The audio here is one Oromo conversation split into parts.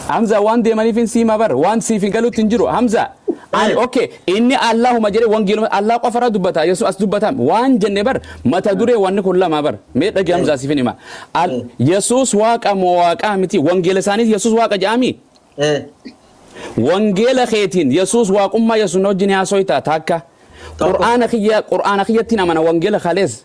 Hamza waan deemanifin siima bar waan siifi galutti hin jiru hamza ani Eh. ok inni allahuma jedhe wangeeluma allah qofara dubbata yesu as dubbata waan jenne bar mata dure wanni kun lama bar mee dhagi hamza siifin hima Al- Eh. yesus waaqa moo waaqaa miti wangeela isaaniis yesus waaqa jedhaami Eh. wangeela keetiin yesus waaqummaa yesus na wajjin haasoyta taakka Tokko. qur'aana kiyya qur'aana kiyyattiin amana wangeela kalees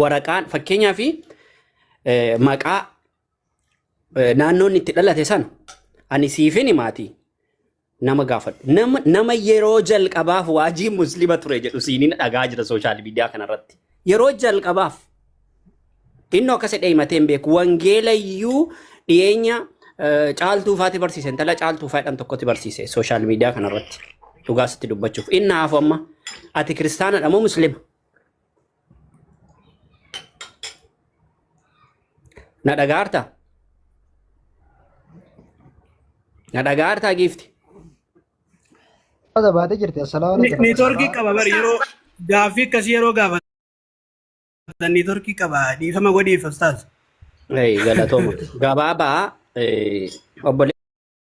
waraqaan fakkeenyaa fi maqaa eh, naannoon itti dhalate sana ani siifini maatii nama gaafadhu. Nama, nama yeroo jalqabaaf waajii muslima ture jedhu siiniin dhagaa jira sooshaal miidiyaa kanarratti. Yeroo jalqabaaf inni akkas jedhee himatee hin beeku. Wangeelayyuu dhiyeenya eh, caaltuu faati barsiise. Intala caaltuu faayidhaan tokkotti barsiise sooshaal miidiyaa kanarratti. Dhugaa sitti dubbachuuf. Inni hafu amma ati kiristaanadha moo muslima? Na dhagaarta? Na dhagaarta giifti? Wata baatee jirti. Assalaamu alaikum. Neetworkii qaba bari yeroo gaaffii akkasii yeroo gaafatan neetworkii qaba dhiifama godhiif ustaaz. Ei, galatooma. Gabaabaa eh, obboleessa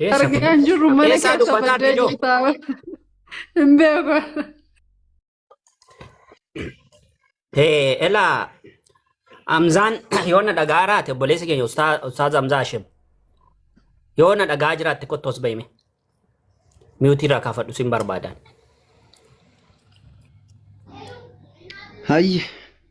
Eessa Argaa hin dubbatti? jirru mana Eessaa keessa dubbataa baddee Didoo? jirtaa. Hin beeku. Ee, Elaa Amzaan yoo na dhagaa jiraate obboleessi keenya Ustaa- Ustaaz Amzaa Hashim yoo na dhagaa jiraatte kottu as bahime. Miyuutii irraa kaafadhu sin barbaadan. Hayye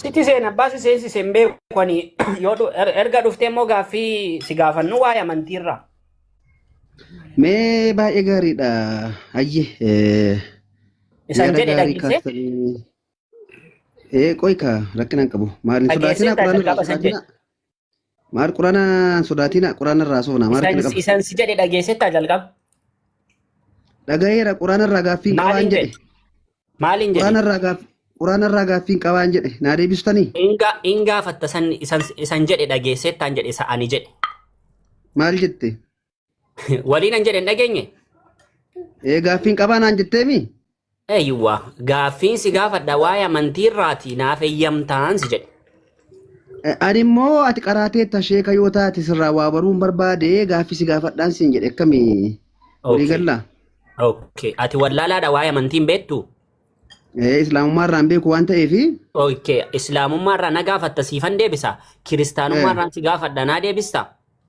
Sitti seena abbaa si seensise hin beeku ani yoo dhu- er- erga dhuftee immoo gaaffii si gaafannu waa'ee amantiirraa. Mee baay'ee gaariidha. Ayye eh, Isan yaada jedhe gaarii dhageessee kaastanii. Ee qoy kaa rakkina hin qabu. Maal hin sodaatinaa dhageessee quraana irraa jalqaba isan jedhe. sodaatinaa. Maal qurana sodaatina qurana irraa soona maal kana qaba. Isan si jedhe dhageessettaa jalqaba. Dhagayeera qurana irraa gaaffiin qabaan Maaliin jedhe. jedhe? Maaliin Qurana jedhe? irraa gaaf qurana irraa gaaffiin qabaan jedhe. Naa deebistanii Inga ingaafatta san isan isan jedhe dhageessettaan jedhe isa ani jedhe. maal jette? Waliin an jedhen dhageenye. Ee gaaffiin qabaa naan jetteemi? Eeyyuwa gaaffiin si gaafadha waa'ee amantii irraati naaf eeyyamtaan si jedhe. Eh, Ani immoo ati qaraatee tasheeka yoo taate sirraa waa baruun barbaade gaaffii si gaafadhaan siin jedhe akkami walii Okay. gallaa? Okay. Ati wallaalaadha waa'ee amantiin beektu? Eh, Islaamummaa irraan beeku waan ta'eef Okay. Islaamummaa irraa na gaafatta siifan deebisa. Kiristaanummaa Eh. irraan si gaafadha naa deebista.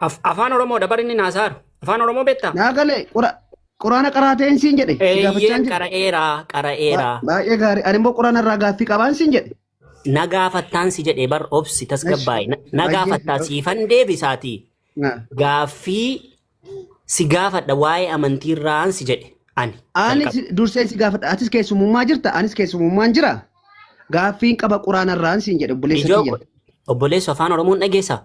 Af- Afaan Oromoodha bar inni naasaaru. Afaan Oromoo beektaa? Naa galee qura- quraana qaraateen siin jedhe. Si gaafachaan Eeyyeen jira. qara'eera, Ba- qara'eera. Baay'ee gaarii. Ani immoo quraana irraa gaaffii qabaan siin jedhe. Na gaafattaan si jedhee bar obsi tasgabbaa'e. Na- Na Baay'ee. gaafattaa siifan deebisaatii. Naa. Gaaffii si gaafadha waa'ee amantii irraan si jedhe. Ani. Ani jalqaba. si- dursee si gaafadha. Atis keessumummaa jirta. Anis keessumummaan jira. Gaaffiin qaba quraana irraan siin jedhe obboleessa Ijoo kiyya. obboleessu afaan Oromoon dhageessaa?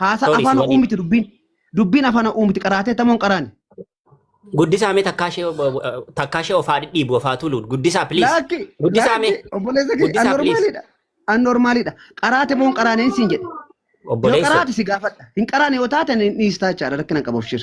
Haasa Sorry, afaan si waliin. uumiti dubbiin. Dubbiin afaan uumiti qaraatee tamoon qaraani. Guddisaa mee takkaa ishee takkaa ishee ofaa dhidhiibu ofaa tuluun guddisaa please. Laakki Guddisaa mee laakki obboleessa kee Guddisaa, annormaalidha. Annormaalidha. Qaraate moon qaraaneen siin jedhe. Yoo obboleessa. qaraate si gaafadha. Hin qaraane yoo taate hin dhiistaa jechaadha rakkina hin qabu abshir.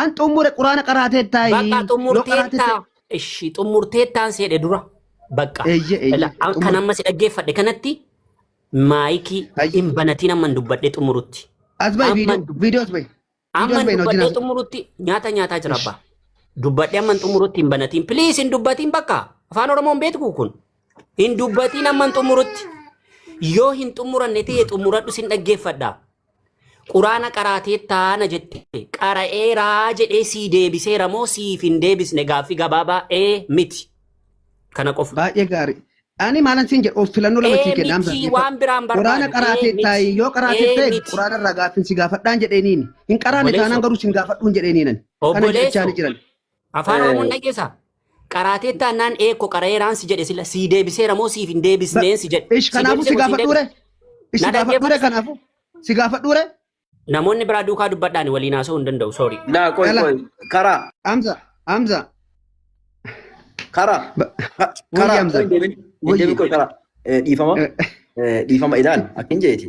An xumure quraana qaraateettaayi. Bakka Yoo xumurteetta qaraateetta. ishi xumurteettaan seedhe dura bakka Eeyye eeyye. Ila- an- kan Xumure. amma si dhaggeeffadhe kanatti maayikii Ayyi. hin banatiin amman dubbadhee xumurutti As bahi amman viidiyoo dub- viidiyoo as bahi. Viidiyoo amman as bahi na wajjin dubbadhee haasa'u. xumurutti nyaata nyaataa jira Ish. abbaa dubbadhee amman xumurutti hin banatiin please hin dubbatiin bakka afaan oromoo hin beektu kun Hin dubbatiin amma hin xumurutti. Yoo hin xumuranne ta'e xumuradhu sin dhaggeeffadha. Quraana qaraatee taana jette. Qara'eeraa jedhee sii deebiseera moo siif hin deebisne gaaffii gabaabaa ee miti. Kana qofa. Baay'ee gaarii. Ani maalan siin jedhu of filannoo lama sii Ee kenna miti Hamza. waan biraan Quraana barbaadu. Ee qaraatee miti. taa'i yoo qaraatee Ee ta'e miti. quraana irraa gaaffiin si gaafadhaan jedheeniin. Hin qaraane Obboleessa. taanaan garuu sin gaafadhuun jedheeniin ani. Kana Obboleessa. jechaa ni jiran. Afaan Eh. Oromoon dhageessaa? Qaraatee taannaan eekko qara'eeraan si jedhe sila sii deebiseera moo siif hin deebisneen si jedhe. Ish kanaafuu si gaafadhuure. Ish si Na gaafadhuure dhaggeeffatu. kanaafuu. Si gaafadhuure. Namoonni biraa duukaa dubbadhaan waliin haasa'uu hin danda'u sorry. Naa qoy Yala. qoy karaa Hamza. Hamza. karaa Ba- ka- Wayya karaa Hamza. qoy deemin Wayya. deemin qoy karaa Eh, dhiifama Eh, Eh, dhiifama ilaal akkin jeeti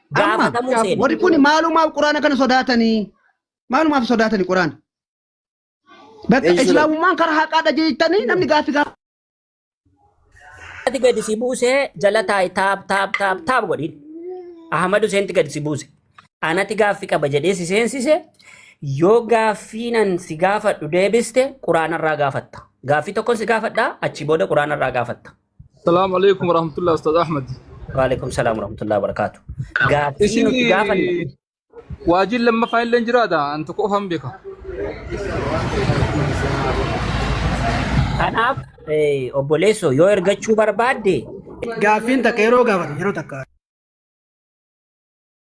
Amma Gaafatamuu seena. warri kun maalumaaf quraana kana sodaatanii? Maalumaaf sodaatanii quraana? Bakka Eeyyee. islaamummaan karaa haqaadha jettanii namni gaaffii gaafa. Ati gadi si buusee jala taa'i taap taap taap taap godhin. Ahmad Huseenti gadi si buuse. Anati gaaffi qaba jedhee si seensise yoo gaaffiinan si gaafadhu deebiste quraanarraa gaafatta. Gaaffii tokkon si gaafadha achi booda quraanarraa gaafatta. Salaamu alaikum warahmatullahi Ustaz Ahmad. Waalaikum salaam warahmatullahi wabarakaatu. Gaaffii Isin nuti gaafan waajiin lammaffaa illee jiraata an tokko ofan beeka. kanaaf eh, obboleessoo yoo ergachuu barbaadde Gaaffiin takka yeroo gaafatan yeroo takka.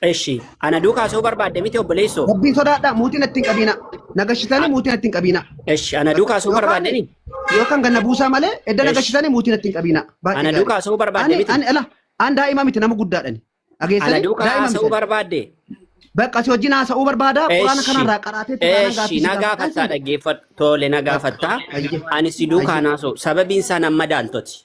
Eshi, ana duukaa soo barbaadde miti obboleessoo. Rabbiin sodaadhaa mootii natti hin qabiina. Na gashitanii mootii natti hin qabiina. Eshi, ana duukaa soo barbaadde ni. Yookaan ganna buusaa malee edda na Esh. gashitanii mootii natti hin qabiina. Baay'ee Ana gaarii. duukaa soo barbaadde Ani miti. ani ala an daa'ima miti nama guddaadhani. Ana Dhageessanii duukaa daa'ima haasa'uu miti. barbaadde. Bakka si wajjin haasa'uu barbaada. Quraana Eshi, kanarraa qaraatee taanaan eshi, gaaffii si na gaafadhaa gaafattaa isin. dhaggeeffadhu. Tole na gaafattaa. Hayyee. Ani si duukaa Hayyee. naasoo. Sababiin isaa nan madaaltoti.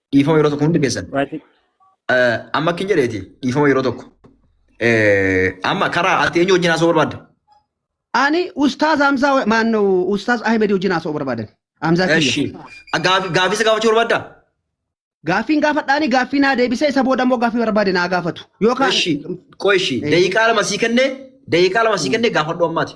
Dhiifama yeroo tokko hundi keessan. Waati- Eh, Amma akkin jedheeti dhiifama yeroo tokko. Eh, Amma karaa ati eenyu wajjin haasa'uu barbaadda? Ani Ustaaz Hamzaa maannoo Ustaaz Ahmed wajjin haasa'uu barbaadan. Hamzaa kiyya. Eshi. Gaafi- Gaafii isa gaafachuu barbaadda? Gaaffiin gaafadhaani gaaffii naa deebisee isa booda immoo gaaffii barbaade naa gaafatu. Yookaan Eshi. Qoy eshi. Daqiiqaa lama sii kennee daqiiqaa lama sii kennee gaafadhu ammaati.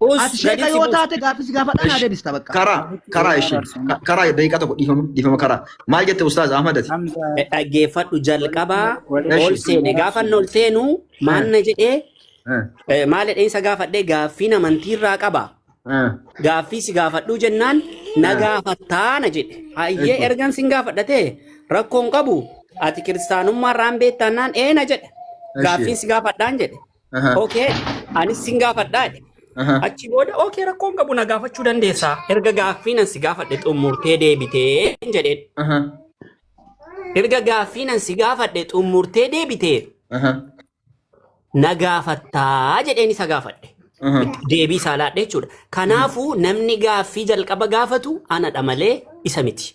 Us Ati sheeka gaditti yoo buus. taate gaaffii si gaafadhaan haa Ish. deebista bakka. Karaa karaa ishii ka- karaa daqiiqaa tokko dhiifama dhiifama karaa maal jette ustaaz Ahmad ati Hamza dhaggeeffadhu jalqabaa walitti ol Eshi. seene gaafan ol seenu maal na jedhee Eh, eh, maal jedhee isa gaafadhee gaaffiin amantii irraa qaba eh, gaaffii si gaafadhuu jennaan na Ah. gaafattaa na jedhe hayyee Eeyyee. ergan sin gaafadhatee rakkoon qabu ati kiristaanummaa irraan beektaannaan ee na jedhe Eeyyee. gaaffiin si gaafadhaan jedhe Aha. Okay, anis sin gaafadhaa jedhe. Aha. Achi booda okay rakkoon qabu na gaafachuu dandeessaa. Erga gaaffii nan si gaafadhe xumurtee deebitee jedheen. Aha. Erga gaaffii nan si gaafadhe xumurtee deebitee Aha. na gaafattaa jedheen isa gaafadhe. Aha. Deebii isaa laadhe jechuudha. Kanaafuu namni gaaffii jalqaba gaafatu anadha malee isa miti.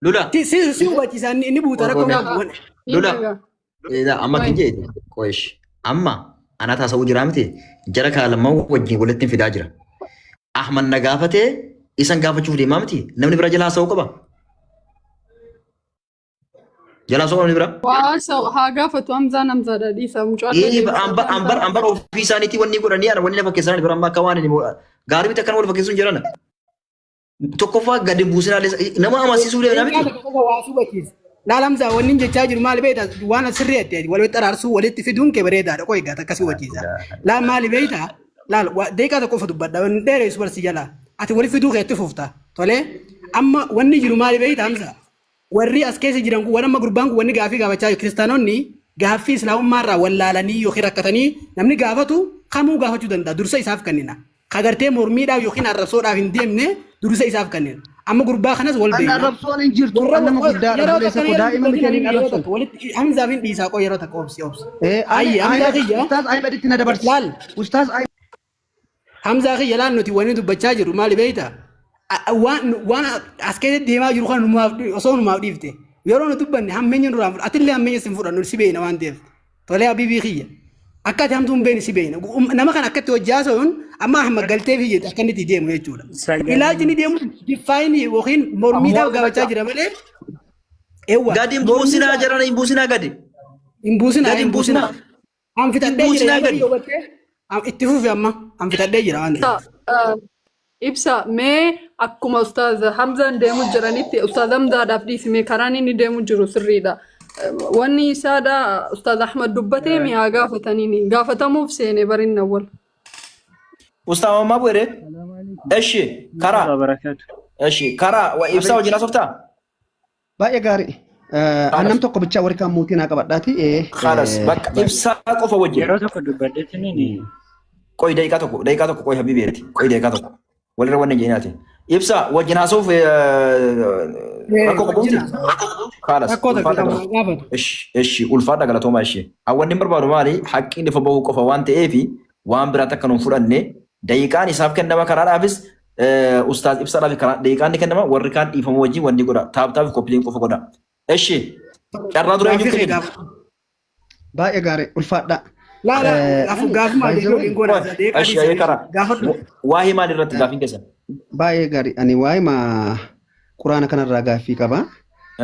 Lula. Si si si hubachiisa inni inni buuta rakkoo Waggaa. qabu. Wal- Lula. Edaa amma kan jee qoyesh amma anaa taasisuu jiraa miti jara kaa lamman wajjin walitti fidaa jira. Ahmad na gaafatee isan gaafachuuf deemaa miti namni bira jalaa haasa'uu qaba. Jalaa haasa'uu namni bira. Waa sa haa gaafatu Hamzaan Hamzaadha dhiisa mucaa Ee, deebisaa Ambar Hamzaa. ambar ambar ofii isaaniitii wanni godhanii ana wanni na fakkeessan bira amma akka waan inni gaarii miti akkan wal fakkeessuun jirana. Tokkoffaa gadi buusinaa nama amansiisuu Egaa danda'amiti. tokko tokko waa si hubachiisa. Laal Hamzaa wanni hin jechaa jiru maali beektaa? Waan as sirrii adda adda walitti araarsuu walitti fiduun kee bareedaadha. Qoy egaa takka si hubachiisa. Laal maali beektaa? Laal waa- deeqaa tokko ofa dubbadha. Wanni dheereessu barsi jalaa. Ati walitti fiduu kee itti fufta. Tolee? Amma wanni jiru maali beektaa Hamzaa? Warri as keessa jiran kun waan amma gurbaan kun wanni gaaffii gaafachaa jiru kiristaanonni gaaffii islaamummaa irraa wallaalanii yookiin rakkatanii namni gaafatu kamuu gaafachuu danda'a dursa isaaf kennina. Ka gartee mormiidhaaf yookiin arrabsoodhaaf hin deemne dursa isaaf kennina. Amma gurbaa kanas wal An beekna. arrabsoon hin jirtu. Warra An nama wa- guddaadha. yeroo Obboleessa takka koo yeroo daa'ima miti ani hin yeroo arrabsu. takka walitti Hamzaaf hin dhiisaa qoo yeroo takka obsi obsi. Eh, ani Ayyi Hamzaa Ahmed, kiyya Ustaaz Ahmeditti na dabarsi. laal Ustaaz Ahmed. Hamzaa kiyya laal nuti wanni dubbachaa jiru maali beeyta? A- a- Waan nu- waan as keessatti deemaa jiru kana numaaf dhi- osoo numaaf dhiifte yeroo nu dubbanne hammeenya nurraa hin fudhatu. Atillee hammeenya sin fudhannu si beeyna waan ta'eef. Tolee habiibii kiyya. Akka ati hamtuu hin beeyne si beeyna. Um- Nama kana akkatti hojjaa so'uun amma hamma galtee fi jedhe akka inni itti deemu jechuudha. Sagalee- Ilaalchi inni deemu diffaayinii yookiin mormiidhaaf Amma- gaafachaa jira malee. Eewwa. Gadi hin buusinaa jedhan hin buusinaa gadi. Hin buusinaa. Gadi hin buusinaa. An fixadhee jira buusinaa yaadonni gadi. yoo battee an itti fufi amma an fixadhee jira waan ta'eef. Ibsa mee akkuma ustaaz Hamzaan deemu jiranitti ustaaz Hamzaadhaaf dhiisi mee karaan inni deemu jiru sirriidha. Eh, Wanni isaadha ustaaz Ahmad dubbatee mee haa gaafataniini. Gaafatamuuf seene barinna wal. Ustaa Mammaa Bu'eree. Eshi karaa. Barakatu. Eshi karaa. Wa ibsaa wajjin asoftaa? Baay'ee gaarii. An nam tokko bichaa warri kaan mootii naa qabadhaati. Khalas bakka ibsaa qofa wajjin. Yeroo tokko dubbadheetiin inni Qoy daqiiqaa tokko daqiiqaa tokko qoy habibi ati qoy daqiiqaa tokko walirra wanni jeenaa ati. Ibsa wajjin haasoof rakkoo qabuuti. Khalas Rakkoo takka ulfaadha qabu galatooma. gaafatu. Ishi ishi ulfaadha galatooma ishi. Hawwanni hin barbaadu maali haqqii lafa bahuu qofa waan ta'eef waan biraatti akka nuun fudhanne daqiiqaan isaaf kennama kanaadhaafis Eh, Ustaaz ibsa dhaaf karaa deeqaan ni kennama warri kaan dhiifama wajjin wanni godha taaptaaf koppiliin qofa godha. Eshi carraa dura Gaafii eenyutti kee kenna? gaaf- Baay'ee gaarii ulfaadhaa. Laa laa Eh, gaaf- gaafuma by the deebi'u way, hin godha. Qoy, Deeqaa Eshi dhiisanii karaa gaafadhu. waa'ee maal irratti gaafiin keessan? Baay'ee gaarii ani waa'ee ma quraana kanarraa gaaffii qaba.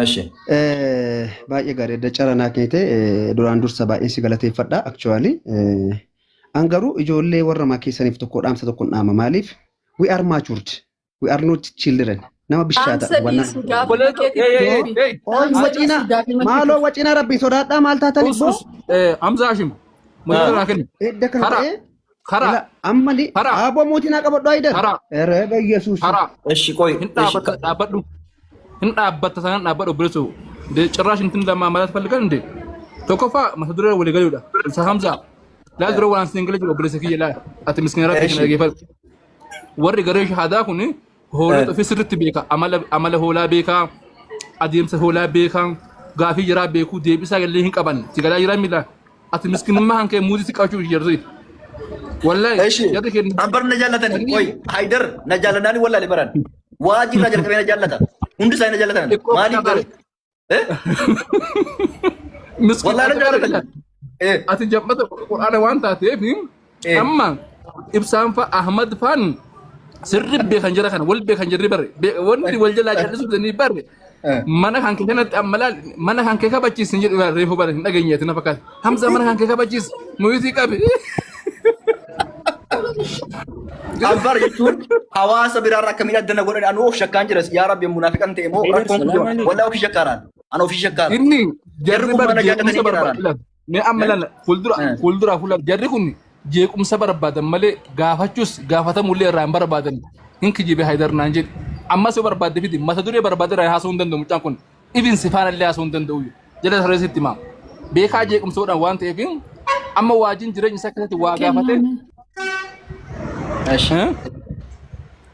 Eshi Eh, Baay'ee gaarii adda carraa naa kennite eh, duraan dursa baay'een si galateeffadha actually. Eh, An garuu ijoollee warra makee saniif tokko dhaamsa tokkon dhaama maaliif we are matured we are not children nama bishaata Dhaamsa wanna dhiisu gaafii Obboleeto, makeetiif hey, hey, hey, deebi. hey. Ol Dhaamsa waciina dhiisu gaafii makeetiif. maaloo waciina rabbii sodaadhaa maal taatan Us, ibboo us, eh, Hamza Hashim. Mudhii irraa kenni. edda kana Karaa, ta'ee karaa, ila amma ni karaa, aaboo mootii naa qabadhu ayidan karaa, ere bayyesuusi karaa. Eshi koi. Hin Eshi dhaabata, dhaabadhu. hin dhaabbatta sanaan dhaabbadha obboleessa koo. De- Cirraash intin lama malat fallikan inde tokkoffaa mata duree walii galuudha. Isa Hamza laal dura waan sin galee jiru obboleessa kiyya laal ati miskiina rabbi kana dhageeffadhu. Warri garee shahaadaa kun hoolota ofii sirriitti beeka amala amala hoolaa beekaa adeemsa hoolaa beekaa gaafii jiraa beekuu deebisaa gallee hin qaban si galaa jiraa miila ati miskiinummaa hankee muudii si qabachuu jirti. Wallahi Eshi. jarri keenya Abbar na jaallatani. Qoy Haydar na jaallatani wallahi baran. Waa jirraa jalqabee na jaallata. Hundi isaa na jaallatan. Xiqqoo Maaliif kana garuu? Eh? Miskiin Wallaahi na ati jaallatan. kana- Eh, ati jammata qur'aana waan taateef Eh. amma ibsaan fa ahmad faan sirri beekan jira kana wal beekan jirri barre Be- wanti wal jalaa jallisuuf danii barre Eh. mana kan kee kanatti amma laal mana kan kee kabachiis hin jedhu laal reefu bara hin dhageenye ati na fakkaata hamza mana kan kee kabachiis muyitii qabi Anfar jechuun hawaasa biraarra akkamiin adda na godhan anuu of shakkaan jiras yaa rabbi munaafiqan ta'e moo Eegar, rakkoon kun salaam jiru alaikum. walaa ofii shakkaaraan an ofii shakkaara inni Jarri jarri kun bara mana jeequmsa jaatanii barbaada jiraatan. laal Mee amma Garuu lalla fuuldura eh, fuuldura fuula jarri kun jeequmsa barbaadan malee gaafachuus gaafatamu illee irraa hin barbaadan hin kijibe haydar naan jedhe ammas yoo barbaadde fidi mata duree barbaadde irraa haasa'uu hin danda'u mucaan kun ibin sifaana illee haasa'uu hin danda'u jala saree sitti himaa beekaa jeequmsa godhan waan ta'eef amma waajiin jireenya isaa keessatti waa gaafate Kenname. እሺ eh?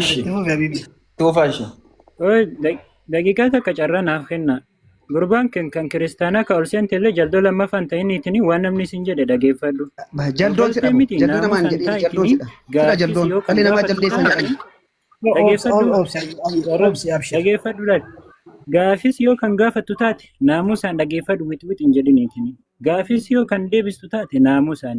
እሺ ቱፋ እሺ Oi, da- daqiiqaa takka carraa naaf kenna. Gurbaan kan kan kiristaanaa ka ol seente illee jaldoo lammaffaan ta'iniitiin waan namni isin jedhe dhageeffadhu. Jaldoon sidha moo? Jaldoo namaan jedhee jaldoon sidha. Sidha jaldoon. Dhalli namaa jaldeessan jedhani. Dhageeffadhu laal. Gaafis yoo kan gaafattu taate naamusaan dhageeffadhu wixwix hin jedhiniitiin. Gaafis yoo kan deebistu taate naamusaan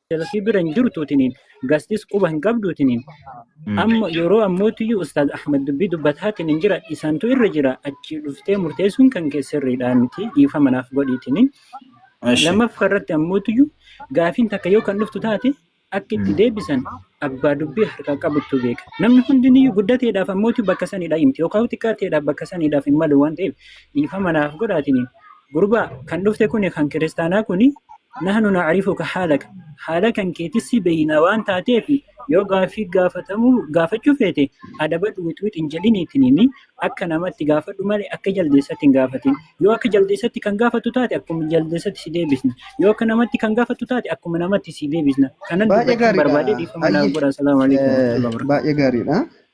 Jalafii bira hin jirtu tiniin gastis quba hin qabdu tiniin Mm. amma yeroo ammootiyyuu ustaaz Ahmad dubbii dubbataatiin hin jira isaantu irra jira achi dhuftee murteessuun kan kee sirriidhaa miti dhiifama naaf godhii tiniin Eshi. lammaffaa irratti ammootiyyuu gaafiin takka yoo kan dhuftu taate akka itti Mm. deebisan abbaa dubbii harkaa qabuttu beeka namni hundiniyyuu guddateedhaaf ammootii bakka saniidhaa himti yookaan xiqqaateedhaaf bakka saniidhaaf hin malu waan ta'eef dhiifama naaf godhaa tiniin Gurbaa kan dhufte kuni kan kiristaanaa kuni nahnu na'rifuka haalaka haala kan keetis si beeyna waan taateef yoo gaaffii gaafatamuu gaafachuu feete adabadhu wixwix hin jedhin ittiin himi akka namatti gaafadhu malee akka jaldeessatti hin gaafatin yoo akka jaldeessatti kan gaafattu taate akkuma jaldeessatti si deebisna yoo akka namatti kan gaafattu taate akkuma namatti si deebisna kanan Baay'ee dubbachuu gaariidha. barbaade dhiifama naaf Hayyee. godha salaamu alaikum warahmatullahi wabarakatuh. Baay'ee gaariidha.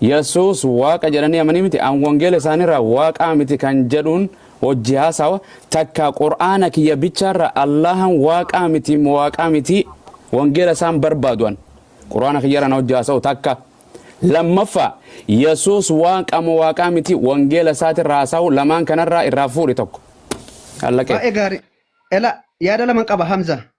Yesuus Waaqa jedhanii amanii miti an wangeela isaaniirraa Waaqaa miti kan jedhuun hojji haasawa takkaa Qur'aana kiyya bichaarraa Allaahan Waaqaa miti mo Waaqaa mitii wangeela isaan barbaadu an Qur'aana kiyyarra na hojji haasawu takka lammaffaa Yesuus Waaqa mo Waaqaa miti wangeela isaatirra haasawu lamaan kanarraa irraa fuudhi tokko. Allaqee. Baay'ee gaarii. Ela yaada laman qaba Hamza.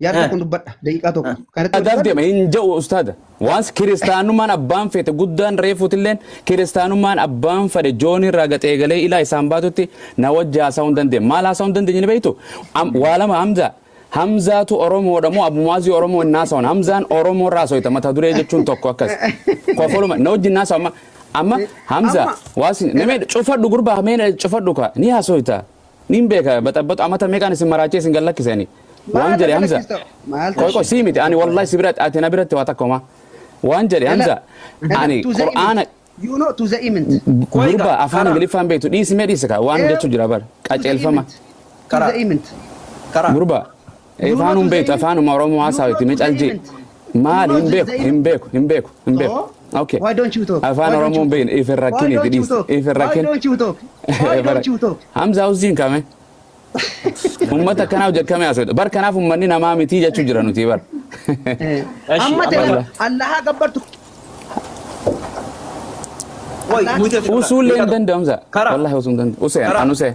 Yaada Eh. tokko dubbadha. Daqiiqaa tokko. Kan irratti Adaaf dubbadhu- deema hin ja'u ustaada. Waans kiristaanummaan abbaan feete guddaan reefuutilleen kiristaanummaan abbaan fedhe joonii irraa gaxee galee ilaa isaan baatutti na wajji haasa'uu hin dandeenye. Maal haasa'uu hin dandeenye ni beektu? Am- Waa lama Hamza. Hamzaatu Oromoodha moo Abumaazii Oromoo hin haasa'an? Hamzaan Oromoo irraa haasa'ita mata duree jechuun tokko akkas. Kofoluma na wajji hin haasa'u amma. Amma Hamza Amma- waasi namee cufadhu gurbaa mee cufadhu kaa ni haasa'ita. Niin beeka baxabaxu amata meeqaan isin maraachee isin gad lakkise ani. Waan Maal jedhe Hamza. galakkistoo? Maal Qoy qoy sii miti ani wallahi si biratti ati na biratti waa takka homaa. Waan jedhe Hamza ani to the Qur'aana image. You know to the image. Qoy gurba gaa, afaan karaa. Ingiliffaan beektu dhiisimee dhiisika waan Eew. jechuu jira bar To the qaceelfama. image. To Karaa. the image. Karaa. Gurba Afaan hin beektu afaanuma Oromoo haasawa itti micaljii. Maali hin beeku hin beeku hin beeku hin beeku. Okay. Why don't you talk? Afaan Why don't Oromoo you hin beekne talk? if hin Why rakkini don't itti you dhiisi. talk? If hin Why rakkini. don't you talk? Why don't you talk? Hamza Hussein kame. Ummata akkanaa hojjetamee haasawudha. Bar kanaaf ummanni namaa mitii jechuu jira nuti bar. Eh, Ashi, Amma ta'e Abdallah. Allahaa gabbartu. Wai, mutu. Usuullee hin danda'amsa. Karaa. Wallahi osoo hin danda'u. Usee Karaa. an usee.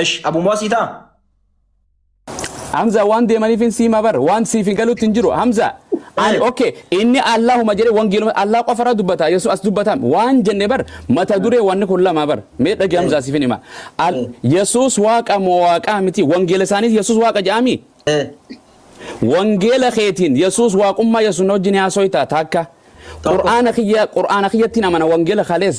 Esh Abu Muasii taa. Hamza waan deemaniif hin siima bar waan siif hin galutti hin jiru Hamza ani Eh. okay inni Allahuma jedhe wangeeluma Allah qofa irra dubbata Yesuus as dubbatam waan jenne bar mata duree wanni kun lama bar mee dhagi Hamza siif hin hima Al- Yesuus waaqa moo waaqaa miti wangeela isaaniis Yesuus waaqa jedhami Eh. wangeela keetiin Yesuus waaqummaa Yesuus na wajjin haasoyta takka Qur'aana kiyya Qur'aana kiyyattiin amana wangeela kalees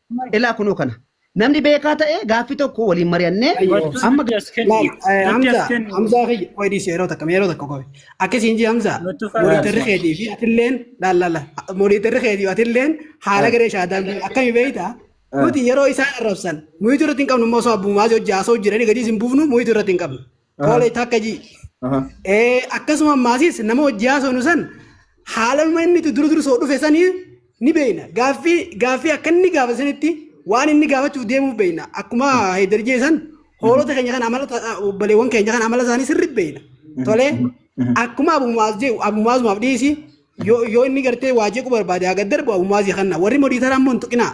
Ilaa kunoo kana. Namni beekaa ta'e gaaffii tokko waliin mari'annee Gochuu amma nutti as kenni. Laal, eh, Nutti as Hamza, kenni. Hamza kiyya, qoy dhiisi yeroo takka, mee yeroo takka qoy. Akkasii hin jii Hamza, Nutti fayyadu. monitorri keetii fi atilleen, laal, laal, laal, monitorri keetii fi atilleen haala garee shaadaan kun akkami beeyta? Nuti yeroo isaan arrabsan, muyitu irratti hin qabnu immoo osoo abbumaas hojii haasoo jiranii gadii isin buufnu muyitu irratti hin qabnu. Koola itti akka jii. Akkasuma ammaasis nama hojii haasofnu san haalaluma inni itti dura dursoo dhufe sanii ni beekna. Gaaffii gaaffii akka inni gaafate sanitti waan inni gaafachuuf deemuuf beekna. Akkuma Haydar jee san hoolota keenya kan amala obbaleewwan keenya kan amala isaanii sirriitti beekna. Tolee akkuma abumaas jee abumaasumaaf dhiisi yoo inni gartee waa jeequu barbaade haa gad darbu abumaasii kanna warri modii taraa immoo hin tuqinaa.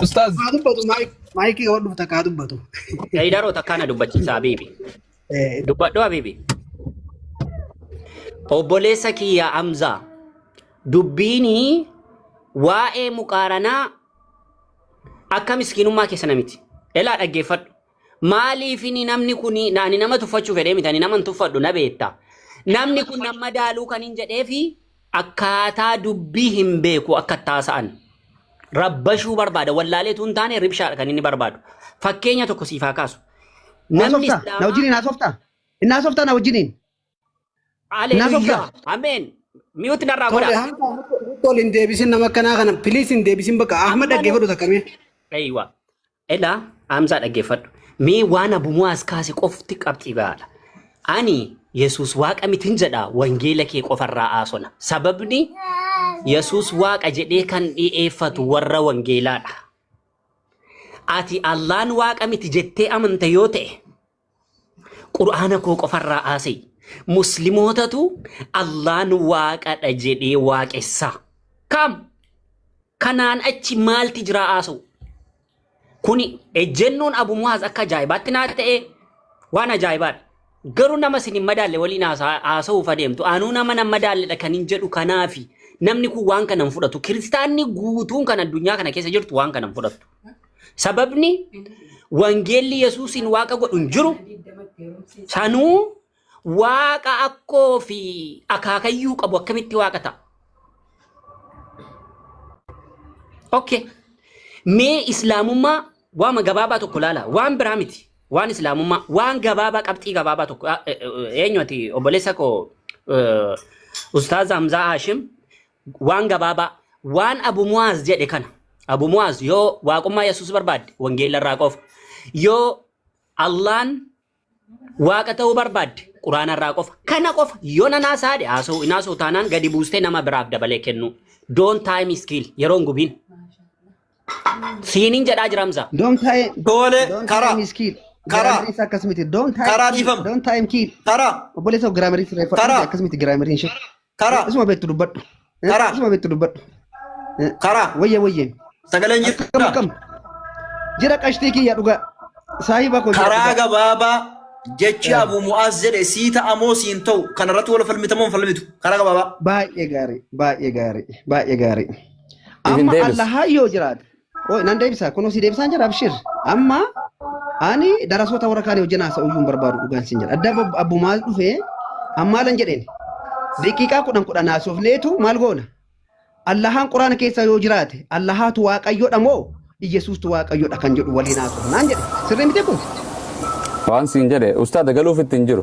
Ustaaz. Haa dubbatu maayik- maayikii yoo dhufte kaa dubbatu. Daydaroo takkaa na dubbachiisa Habiibi. Eh, Dubbadhu Habiibi. Obboleessa kiyya Hamzaa dubbiini waa'ee muqaaranaa akka miskiinummaa keessa namiti. Elaa dhaggeeffadhu. Maaliifini namni kuni ani nama tuffachuu fedhee miti ani nama hin tuffadhu na beekta. Namni kun nama daaluu kan hin jedheefi akkaataa dubbii hin beeku akka taasa'an. Rabbashuu barbaada wallaaleetu hin taane ribshaadha kan inni barbaadu. Fakkeenya tokko siif haa kaasu. Namni Haasoftaa? Na Islaamaa wajjiniin haasoftaa? Inni haasoftaa na wajjiniin? Haleluya. Ameen. Miyuuti narraa godha. Tole hanga murtoo ol hin deebisin nama akkanaa kana piliis hin deebisin bakka Ahmad dhaggeeffadhu takkamee. Eeywa. Elaa Hamzaa dhaggeeffadhu. Mee waan abumuwaas kaase qofti qabxii gahaadha. Ani Yesuus waaqa mitin jedha wangeela kee qofarraa haasona. Sababni Yesuus waaqa jedhee kan dhi'eeffatu warra wangeelaadha. Ati Allaan waaqa miti jettee amanta yoo ta'e Qur'aana koo qofarraa aasee muslimootatu Allaan waaqadha jedhee waaqessaa. Kaam kanaan achi maalti jiraa aasa'u? Kuni ejjennoon Abu Muhaaz akka ajaa'ibaatti naa ta'ee waan ajaa'ibaadha. Garuu nama isin hin madaalle waliin haasa- haasa'uuf adeemtu anuu nama nan madaalledha kan hin jedhu kanaafi namni kun waan kana hin fudhatu. Kiristaanni guutuun kan addunyaa kana keessa jirtu waan kana hin fudhattu. Sababni wangeelli Yesuusiin waaqa godhu hin jiru. Sanuu waaqa akkoo fi akaakayyuu qabu akkamitti waaqa ta'a? Okay. Mee islaamummaa waama gabaabaa tokko ilaala. Waan biraa miti. Waan islaamummaa waan gabaabaa qabxii gabaabaa tokko Ah, eh, eh, eenyu ati obboleessa koo eh, Ustaaz Hamzaa Haashim waan gabaabaa waan abu mu'aaz jedhe kana abu mu'aaz yoo waaqummaa yesus barbaadde wangeela irraa qofa yoo allaan waaqa ta'uu barbaadde quraana irraa qofa kana qofa yoo nan haasaadhe haasa'u hin haasa'u taanaan gadi buustee nama biraaf dabalee kennuu doon taayim iskiil yeroon gubiin siiniin jedhaa jiramsa Don't time, Tole, don't karaa. time is kill. Karaa. Grammar is akkasumiti. Don't time, Karaa kill. dhiifama. don't time kill. Karaa. Obboleessa grammar is reeffa. Karaa. Akkasumiti grammar hin shakku. Karaa. Isuma beektu dubbadhu. Eh, Karaa. Isuma beektu dubbadhu. Eh, Karaa. Wayya wayya. Sagaleen Akkam jirta. akkam. Jira qashtii kiyya dhugaa. Saahiba koo jira Karaa dhugaa. gabaabaa jechi Eh. Abu Mu'aaz jedhe sii ta'a moo sii hin ta'u kanarratti wal falmita moo hin falmitu karaa gabaabaa. Baay'ee gaarii. Baay'ee gaarii. Baay'ee gaarii. Isin Amma deebis. Allahaa yoo jiraate. Qoy nan deebisa kunoo si deebisaan jira abshir amma ani darasoota warra kaanii hojii naasa uyyuu hin barbaadu dhugaan sin jedha adda abbo- abbo maal dhufee ammaalan jedheen daqiiqaa kudhan kudhan haasofneetu maal goona allahaan quraana keessa yoo jiraate allahaatu waaqayyoodha moo iyyasuustu waaqayyoodha kan jedhu waliin haasofnaan jedhe sirrii miti kun Waan siin jedhe ustaada galuuf itti hin jiru.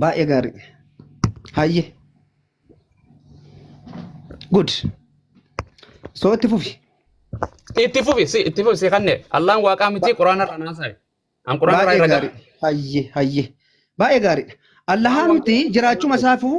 Baay'ee gaarii. Hayyee. Good. So itti fufi. Itti fufi si itti fufi si kanne Allaan waaqaa miti quraana irraa naasaye. An quraana irraa Baay'ee irra gaarii. Hayyee hayyee. Baay'ee gaariidha. Allahaa miti jiraachuma isaafuu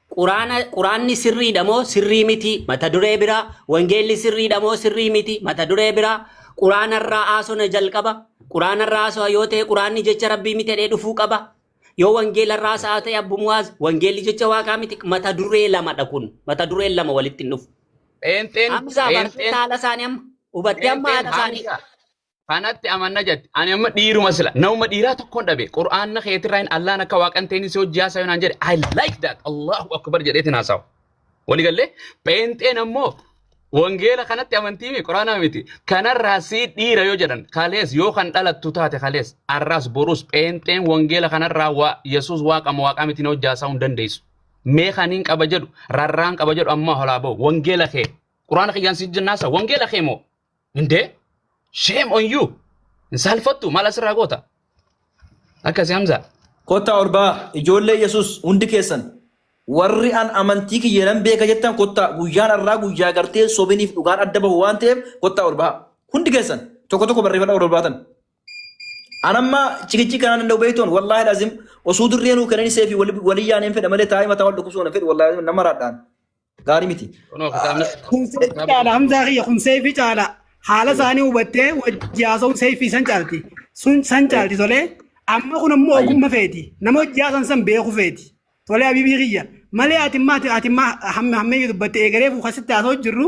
Quraana Quraanni sirriidha moo sirrii miti mata duree biraa wangeelli sirriidha moo sirrii miti mata duree biraa Quraana irraa haasona jalqaba Quraana irraa haasoo yoo ta'e Quraanni jecha Rabbii miti jedhee dhufuu qaba yoo wangeela irraa haasa'aa ta'e Abbu Muwaaz wangeelli jecha waaqaa miti mata duree lamadha kun mata dureen lama walitti hin dhufu Pheenxeen, Hamza bartee pheenxeen, haala isaanii amma hubattee amma haala pheenxeen isaanii Hamza. kanatti amanna jette ani amma dhiiruma sila nama dhiiraa tokkoon dhabe qur'aanna keetirraa hin allaan akka waaqan ta'in si hojii haasaa yonaan jedhe I like that Allahu akbar jedheetin haasawa walii gallee pheenxeen ammoo wangeela kanatti amantii mi qur'aana miti kanarraa si dhiira yoo jedhan kalees yoo kan dhalattu taate kalees arraas borus pheenxeen wangeela kanarraa waa yesus waaqama waaqaa miti na hojii haasaa hin dandeessu mee kaniin qaba jedhu rarraan qaba jedhu ammaa holaa ba'u wangeela kee qur'aana kiyyaan si jennaasa wangeela kee moo Indee shame on you. Hin saalfattu maal asirraa goota? Akkasi Hamzaa. Kottaa ol ba'aa ijoollee Yesuus hundi keessan warri an amantii kiyya nan beeka jettan kottaa guyyaan har'aa guyyaa gartee sobiniif dhugaan adda bahu waan ta'eef kottaa ol ba'aa hundi keessan tokko tokko barreeffadha ol baatan. An amma cikichii kanaan danda'u beektoon wallaahi lazim osoo dirree nuu kenanii seefi walii yaaneen fedha malee taa'ee mataa wal dhukkubsuun hin fedhu wallaahi nama raadhaan. Gaarii miti. Kunoo kitaabni Kun seefi caala hamzaa kiyya kun seefi caala haala isaanii hubattee wajji haasa'uun seefi san caalti sun san caalti tolee amma kun ammoo Ayyi. ogumma feeti nama hojii haasan san beeku feeti tolee habiibii kiyya malee ati maati ati ma hamme hammeenyi dubbatte eegalee fuukasitti haasa'u jirru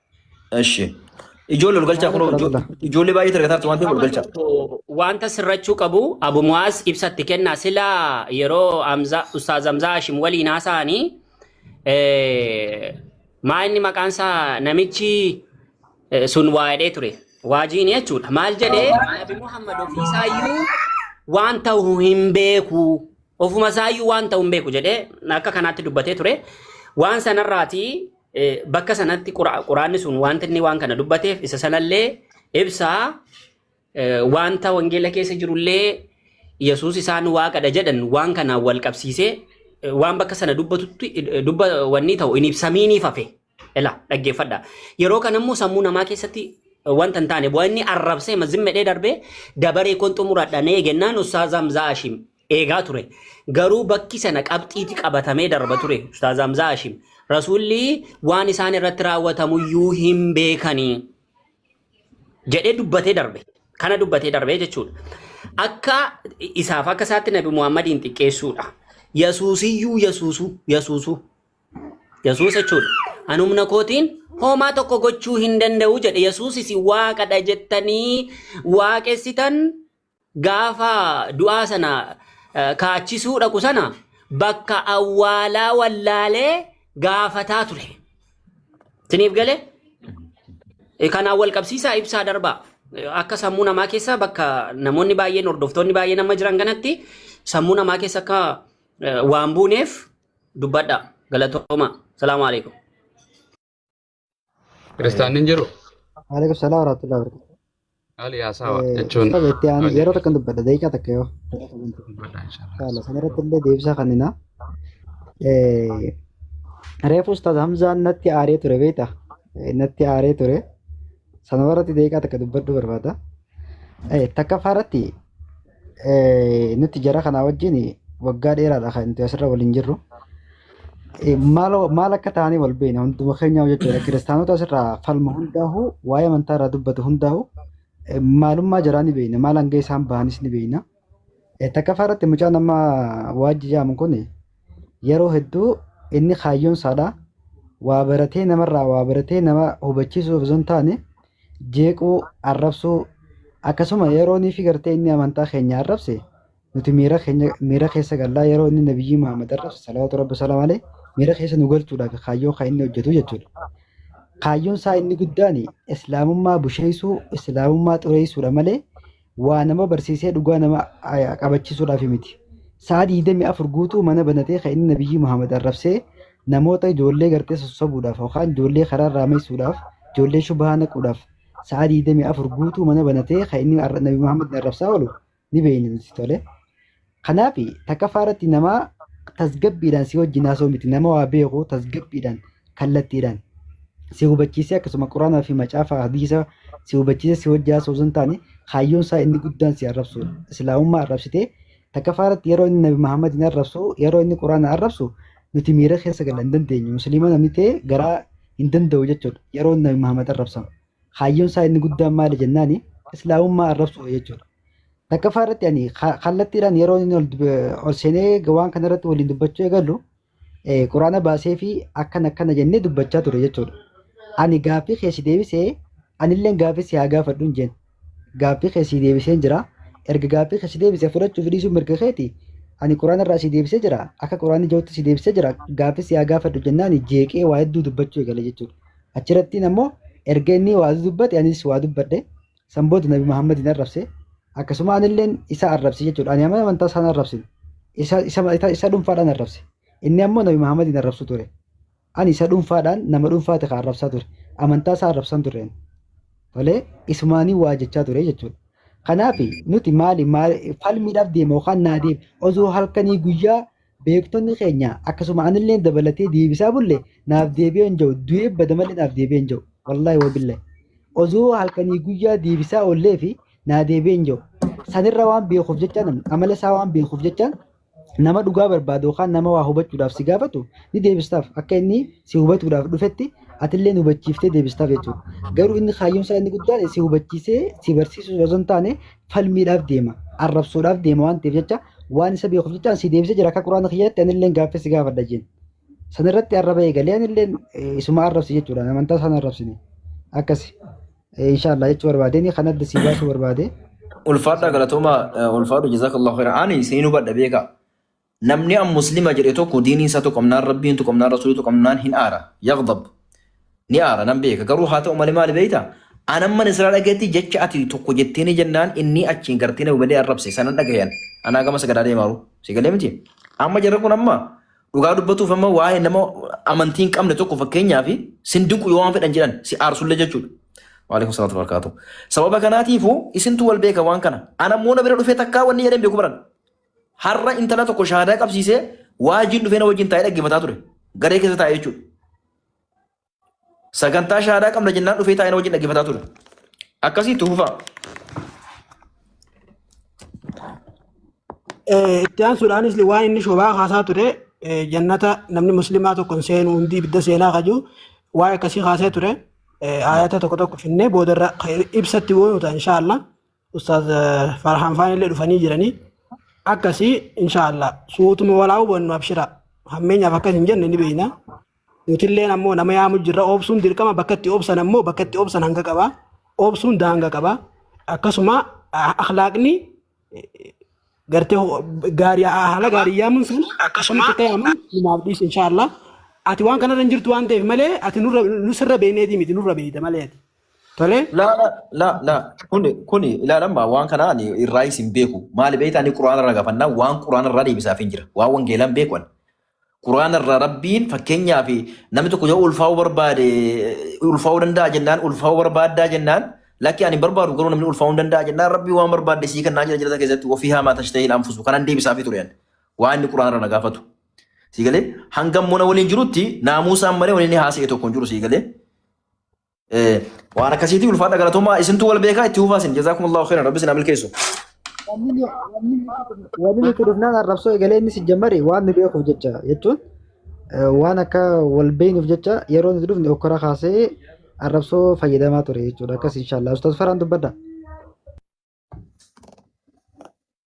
Eshi. Ijoollee ol galchaa kunoo ijo- ijoollee baay'ee argataa jirtu waan ta'eef ol Amma galchaa. tokko wanta sirrachuu qabu Abu Muwaaz ibsatti kenna sila yeroo Hamza- Ustaaz Hamzaa Hashim waliin haasa'anii eh, maa inni maqaan isaa namichi eh, sun waa jedhee ture waajiin jechuudha maal jedhee Nabi Muhammad ofiisaayyuu waan ta'u hin beeku ofuma isaayyuu waan ta'u hin beeku jedhee akka kanaatti dubbatee ture waan sanarraatii Eh, Bakka sanatti qura- quraanni sun wanta inni waan kana dubbateef isa sanallee ibsaa eh, wanta wangeela keessa jirullee Yesuus isaan waaqadha jedhan waan kanaan wal qabsiisee eh, waan bakka sana dubbatutti eh, dubba wanni ta'u hin ibsamiiniif hafe. Ela dhaggeeffadha. Yeroo kana immoo sammuu namaa keessatti eh, wanta hin taane bu'aa inni arrabsee mazimmedhee darbee dabaree kun xumuradha nee gennaan ussaazaa mzaa ashim eegaa ture. Garuu bakki sana qabxiiti qabatamee darba ture. Ustaaz Hamzaa Hashim. Rasuulli waan isaan irratti raawwatamuyyuu hin beekanii jedhee dubbatee darbe. Kana dubbatee darbe jechuudha. Akka isaaf akka isaatti Nabi Muhammadiin xiqqeessuudha. Yasuusiyyuu yasuusuu yasuusuu Yesuus jechuudha. An humna kootiin homaa tokko gochuu hin danda'u jedhe. Yesuus isin waaqadha jettanii waaqessitan gaafa du'aa sana eh, kaachisuu dhaqu sana bakka awwaalaa wallaalee gaafataa ture. Isiniif galee? Eh, Kanaan wal qabsiisaa ibsaa darbaa. Eh, Akka sammuu namaa keessa bakka namoonni baay'een hordoftoonni baay'een amma jiran kanatti sammuu namaa keessa akka eh, waan buuneef dubbadha. Galatooma. Salaamu alaikum. Kiristaanni hin jiru? Waalaikum salaam warahmatullahi wabarakatuh. Haali haasawa jechuun. Saba itti aanu yeroo takkan dubbadha daqiiqaa takka yoo. Inshallah san irratti illee deebisaa kennina. Reefu ustaaz Hamzaan natti aaree ture beekta. Natti aaree ture. Sana irratti daqiiqaa takka dubbadhuu barbaada. Takkaffaa irratti Eh, nuti jara kanaa wajjin waggaa dheeraadha kan nuti asirra waliin jirru. Eh, Maal maal akka ta'anii wal beekna hunduma keenyaa jechuudha. Kiristaanota asirraa falma hundaahu waa'ee amantaa irraa dubbatu hundaahu eh, maalummaa jaraa ni beekna. Maal hanga isaan bahanis ni beekna. Eh, Takkaffaa irratti mucaan amma waajji jaamu kun yeroo hedduu inni kaayyoon isaadha. Waa baratee namarraa waa baratee nama hubachiisuuf osoo hin taane jeequu, arrabsuu, akkasuma yeroo niifi gartee inni amantaa keenya arrabse nuti miira keenya miira keessa gallaa yeroo inni nabiyyii Muhammad arrabse salawaatu rabbi salaam alee miira keessa nu galchuudhaaf kaayyoo kan inni hojjetu jechuudha. Kaayyoon isaa inni guddaan islaamummaa busheessuu, islaamummaa xureessuudha malee waa nama barsiisee dhugaa nama aya- qabachiisuudhaaf miti. Sa'a 24 guutuu mana banatee kan inni Nabiyyii Muhammad arrabsee namoota ijoollee gartee sossobuudhaaf yookaan ijoollee karaa irraa meessuudhaaf ijoollee shubahaa naquudhaaf sa'a 24 guutuu mana banatee kan inni arra- Nabi Muhammad arrabsaa oolu ni beeyna nuti tole. Kanaaf takaffaa irratti nama tasgabbiidhaan si wajjin haasoo miti nama waa beeku tasgabbiidhaan kallattiidhaan si hubachiisee akkasuma quraanaa fi macaafa hadiisa si hubachiisee si wajjin haasoo osoo hin taane kaayyoon isaa inni guddaan si arrabsuudha. Islaamummaa arrabsitee takaffaa irratti yeroo inni Nabi Muhammadiin arrabsu yeroo inni quraana arrabsu nuti miira keessa gala hin dandeenyu musliima namni ta'e garaa hin danda'u jechuudha yeroo Nabi Muhammad arrabsamu. Kaayyoon isaa inni guddaan maali jennaani islaamummaa arrabsuudha jechuudha. Takkaffaa irratti ani ka- kallattiidhaan yeroo inni ol dub- ol seenee waan kana irratti waliin dubbachuu eegallu eh, quraana baasee fi akkana akkana jennee dubbachaa ture jechuudha. Ani gaaffii kee si deebisee anilleen gaaffii si haa gaafadhu hin jenne. Gaaffii kee si deebiseen jira. Erga gaaffii kee si deebise fudhachuuf dhiisuun mirga keeti. Ani quraana irraa si deebisee jira. Akka quraanni jirutti si deebisee jira. Gaaffii si haa gaafadhu jennaan jeeqee waa hedduu dubbachuu eegale jechuudha. Achirattiin ammoo erga inni waa dubbate anis waa dubbadhe. San booda Nabi Muhammadiin arrabse. Akkasuma anilleen isa arrabse jechuudha. Ani amala amantaa isaan arrabsin. Isa, isa, isa, isa dhuunfaadhaan arrabse. Inni ammoo Nabi Muhammadiin arrabsu ture. Ani isa dhuunfaadhaan nama dhuunfaati kan arrabsaa ture. Amantaa isaa arrabsan ture ani. Tolee, isumaanii waa jechaa ture jechuudha. Kanaaf nuti maali, maali falmiidhaaf deema yookaan naa deema. Osoo halkanii guyyaa beektonni keenya akkasuma anillee dabalatee deebisaa bulle naaf deebi'ee hin jiru du'ee bada malee naaf deebi'ee hin jiru wallaahi wabillahi osoo halkanii guyyaa deebisaa ollee fi naa deebi'ee hin jiru sanirra waan beekuuf jecha namni amala isaa waan beekuuf jecha nama dhugaa barbaadu yookaan nama waa hubachuudhaaf si gaafatu ni deebistaaf akka inni si hubatuudhaaf dhufetti atillee hubachiiftee deebistaaf jechuudha garuu inni kaayyoon isaa inni guddaan si hubachiisee si barsiisuu osoo hin taane falmiidhaaf deema arrabsoodhaaf deema waan ta'eef jecha waan isa beekuuf jecha si deebisee jira akka quraana kiyyaatti anilleen gaaffii si gaafadha jeen san irratti arraba eegalee anilleen isuma arrabsi jechuudha amantaa isaan arrabsine akkasi inshaallah jechuu barbaadeen kan adda si baasuu barbaade. Ulfaadha galatoomaa ulfaadhu jazakallahu khairan ani seenuu badha beekaa. Namni an muslima jedhe tokko diinii isaa tuqamnaan rabbiin tuqamnaan rasuulii tuqamnaan hin aara yaghdab ni aara nan beeka garuu haa ta'u malee maali beeyta an amman israa dhageetti jecha ati tokko jettiinii jennaan innii achiin gartee na hubalee arrabse sanan dhagayan anaa gama sagadaa deemaaru si galee miti amma jarra kun amma dhugaa dubbatuuf amma waa'ee nama amantii hin qabne tokko fakkeenyaa fi sin dinqu yoo waan fedhan jedhan si aarsullee jechuudha. Waalaikum salaatu barakaatu. Sababa kanaatiifuu isintu wal beeka waan kana. Ana immoo na bira dhufee takkaa wanni jedhan beeku baran. Har'a intala tokko shahaadaa qabsiisee waajiin dhufee na wajjin taa'ee dhaggeeffataa ture. Garee keessa taa'ee jechuudha. Sagantaa shahaadaa qabna jennaan dhufee taa'ee na wajjin dhaggeeffataa ture. Akkasii itti fufaa. Eh, itti aansuudhaanis waan inni shobaa kaasaa ture eh, jannata namni muslimaa tokkon seenu hundi ibidda seenaa kaju waan akkasii kaasee ture eh, ayata tokko tokko finnee boodarra eh, ibsatti goonu ta'a inshaallah Ustaaz eh, Farhaan Faan illee dhufanii jiranii akkasii inshaallah suutuma walaa hubannu abshira hammeenyaaf akkas hin jenne ni beekna nutilleen ammoo nama yaamu jirra obsuun dirqama bakka itti obsan ammoo bakka itti obsan hanga qaba obsuun daanga qaba akkasuma ah, akhlaaqni gartee ho- gaarii haala gaarii yaamuun sun akkasuma ta'e ammoo numaaf dhiisu inshaallah ati waan kanarra hin jirtu waan ta'eef malee ati nurra nusirra beekneetii miti nurra beekta malee ati Tolee? La la la la kuni kuni ilaalamma waan kana ani irraa isin beeku maali beekta ani quraana irraa gafanna waan quraana irraa deebisaaf hin jira waan wangeelaan beeku ani quraana irraa rabbiin fakkeenyaaf namni tokko yoo ulfaa'uu barbaade ulfaa'uu danda'a jennaan ulfaa'uu barbaaddaa jennaan lakki ani hin barbaadu garuu namni ulfaa'uu hin danda'a jennaan rabbii waan barbaadde sii kennaa jira jirata keessatti ofii haamaa tashtahii anfusu kanan deebisaafii ture ani waan inni quraana irraa na gaafatu sii galee hangam mona waliin jirutti naamuusaan malee waliin haasa'e tokko hin jiru sii galee Eh, Waan akkasiitii ulfaadha galatoomaa isintu wal beekaa itti hufaa isin jazaakumullahu khairan rabbi isin haa milkeessu. Wanni nuti dhufnaan arrabsoo egalee inni si jammari waan nu beekuuf jecha jechuun eh, waan akka wal beeknuuf jecha yeroo nuti dhufne okkora kaasee arrabsoo fayyadamaa ture jechuudha akkas inshaallah ustaas faraan dubbadha.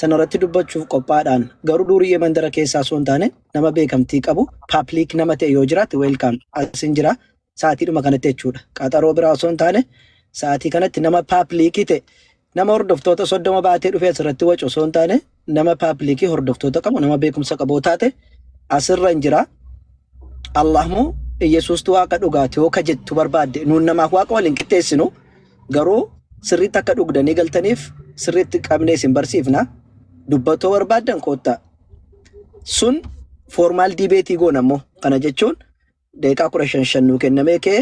sanarratti dubbachuuf qophaadhaan garuu duuriyyee mandara keessaa osoo hin taane nama beekamtii qabu paapliik nama ta'e yoo jiraate weelkaam asin jira sa'aatiidhuma kanatti jechuudha qaxaroo biraa osoo hin taane sa'aatii kanatti nama paapliikii ta'e nama hordoftoota soddoma baatee dhufee asirratti wacu osoo hin taane nama paapliikii hordoftoota qabu nama beekumsa qabu taate asirra hin jira Allahmoo Iyyasuustu waaqa dhugaati yoo ka jettu barbaadde nuun namaaf waaqa waliin qixxeessinu. Garuu sirriitti akka dhugdanii galtaniif sirriitti qabnee isin barsiifna. Dubbatoo barbaaddan koottaa. Sun foormaal diibeetii goona immoo kana jechuun daqiiqaa kudha shan shan nuu kennamee kee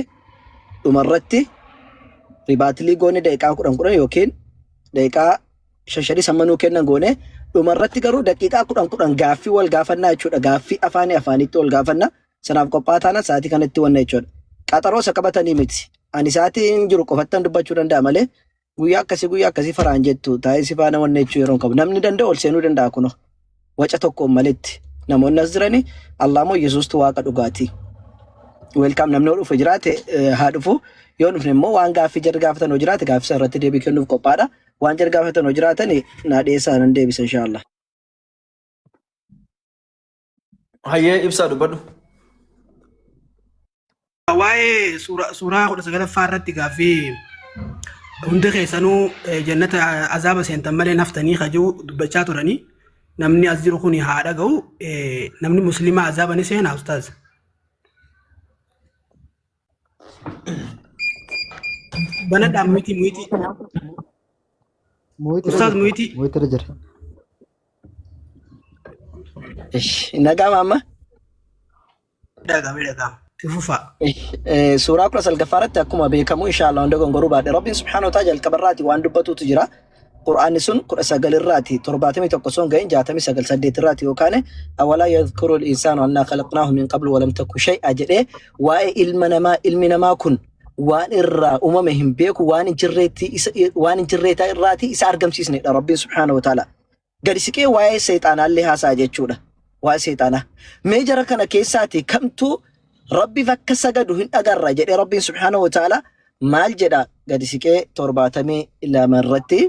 dhumarratti ribaatilii goone daqiiqaa kudhan kudhan yookiin daqiiqaa shan shanis amma nuu kennan goone dhumarratti garuu daqiiqaa kudhan kudhan gaaffii wal gaafannaa jechuudha. Gaaffii afaanii afaaniitti wal gaafanna. sanaaf qophaa'aa taanaan sa'aatii kanatti wanna jechuudha. Qaxaroo isa qabatanii miti. Ani sa'aatii hin jiru qofattan dubbachuu danda'a malee guyyaa akkasii guyyaa akkasii faraan jettu taa'ee si faana wanna jechuu yeroo hin qabu. Namni danda'u ol seenuu danda'a kunoo. Waca tokkoon malitti. Namoonni as jiranii Allah moo Yesuustu waaqa dhugaatii. Weelkaam namni yoo dhufe jiraate eh, haa dhufu. Yoo dhufne immoo waan gaaffii jarri gaafatan yoo jiraate gaaffii sana irratti deebii kennuuf qophaadha. Waan jarri gaafatan yoo jiraatan naa dhiyeessaa nan deebisa inshaallah. Hayyee ibsaa dubbadhu. Waa'ee suura- suuraa kudha sagalaffaa irratti gaaffii hundi keessanuu eh, jannata azaaba seentan malee naftanii kajuu dubbachaa turanii namni as jiru kun haa dhaga'u eh, namni musliimaa azaaba ni seenaa ustaaz. Banadhaan miti miti. Ustaaz Muhitii. Muhitii jira. Nagaama amma Dhagame dhagama. Fufaa. Eh, suuraa kudha salgaffaa irratti akkuma beekamu inshaallah hunda gongoruu baadhe rabbiin subhaanahu wa ta'ala jalqaba irraati waan dubbatuutu jira Qur'aanni sun kudha sagal irraati torbaatamii tokko sun ga'in jaatamii sagal saddeet irraati yookaan awalaa yadhkuru al-insaanu annaa khalaqnaahu min qablu walam takku shay'a jedhee waa'ee ilma namaa ilmi namaa kun waan irraa uumame hin beeku waan hin jirreetti isa waan hin jirreetaa irraati isa argamsiisnedha rabbiin subhaanahu wa ta'ala Gadi siqee waa'ee seexaanaallee haasa'a jechuudha. Waa'ee seexaanaa. Mee jara kana keessaatii kamtu Rabbiif akka sagadu hin agarra jedhee Rabbiin subhaanahu wa ta'aalaa maal jedha gadi siqee 72 irratti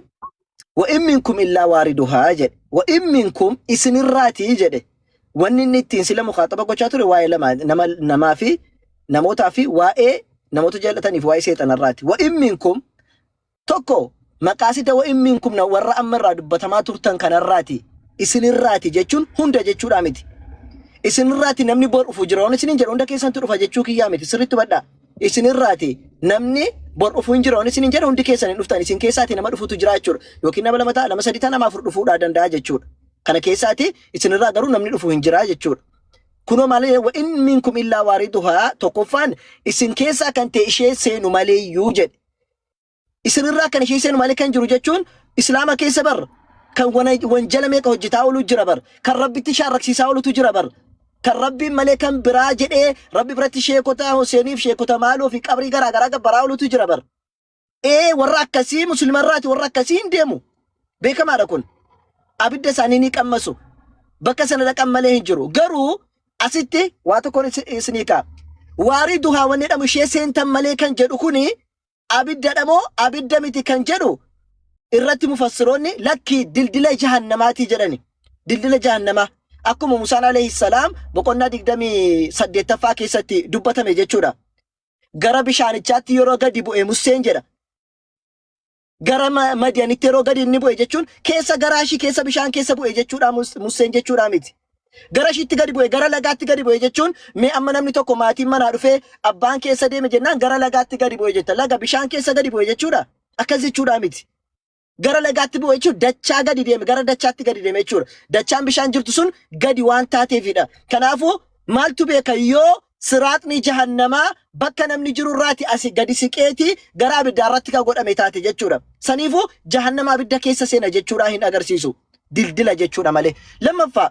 wa in minkum illaa waariduhaa jedhe wa in minkum isinirraatii jedhe wanni inni ittiin sila mukaaxaba gochaa ture waa'ee lama nama namaa fi namootaa fi waa'ee namoota jaallataniif waa'ee seexanarraati wa in minkum Tokko, maqaasita wa'in miinkumna warra amma irraa dubbatamaa turtan kanarraati, isinirraati jechuun hunda jechuudhaa miti. Isinirraati namni bor dhufu jira. Waan isiniin jedhu hunda keessantu dhufa jechuu kiyyaa miti. Sirriitti hubadhaa. Isinirraati namni bor dhufu hin jira. Waan isiniin jedhu hundi keessan hin dhuftan. Isin keessaati nama dhufutu jira jechuudha. Yookiin nama lama ta'a, nama sadii ta'a, nama afur dhufuudhaa danda'a jechuudha. Kana keessaati isinirraa garuu namni dhufu hin jira jechuudha. Kunoo maal jedhe wa'in miinkum illaa waariduhaa tokkoffaan isin keessaa kan ta'e ishee seenu maleeyyuu jedhe. Isinirraa kan ishee seenu malee kan jiru jechuun Islaama keessa bar kan wana- wanjala meeqa hojjetaa oolu jira bar kan rabbitti shaarraksiisaa oolutu jira bar kan rabbiin malee kan biraa jedhee rabbi biratti sheekota Hoseeniif sheekota maaloo fi qabrii garaa garaa gabbaraa oolutu jira bar. Ee warra akkasii musliima irraati warra akkasii hin deemu. Beekamaadha kun. Abidda isaanii ni qammasu. Bakka sana dhaqan malee hin jiru. Garuu Asitti waa tokkoon isi- isinii ka'a. Waarii duhaa wanni jedhamu ishee seentan malee kan jedhu kuni abiddadha moo abidda miti kan jedhu irratti mufassiroonni lakkii dildila jahannamaatii jedhani. Dildila jahannamaa akkuma Musaan alayhi salaam boqonnaa 28ffaa keessatti dubbatame jechuudha. Gara bishaanichaatti yeroo gadi bu'e Museen jedha. gara ma- madiyanitti yeroo gadi inni bu'e jechuun keessa garaa ishii keessa bishaan keessa bu'e jechuudha Mus- musseen jechuudha miti. Gara ishiitti gadi bu'e gara lagaatti gadi bu'e jechuun mee amma namni tokko maatiin manaa dhufee abbaan keessa deeme jennaan gara lagaatti gadi bu'e jetta laga bishaan keessa gadi bu'e jechuudha akkas jechuudha miti. Gara lagaatti bu'e jechuun dachaa gadi deeme gara dachaatti gadi deeme jechuudha. Dachaan bishaan jirtu sun gadi waan taateefidha. Kanaafuu maaltu beeka yoo siraaxni jahannamaa bakka namni jiru irraati asi gadi siqeeti gara abiddaa irratti ka godhame taate jechuudha. Saniifu jahannama abidda keessa seena jechuudha hin agarsiisu. Dildila jechuudha malee. Lammaffaa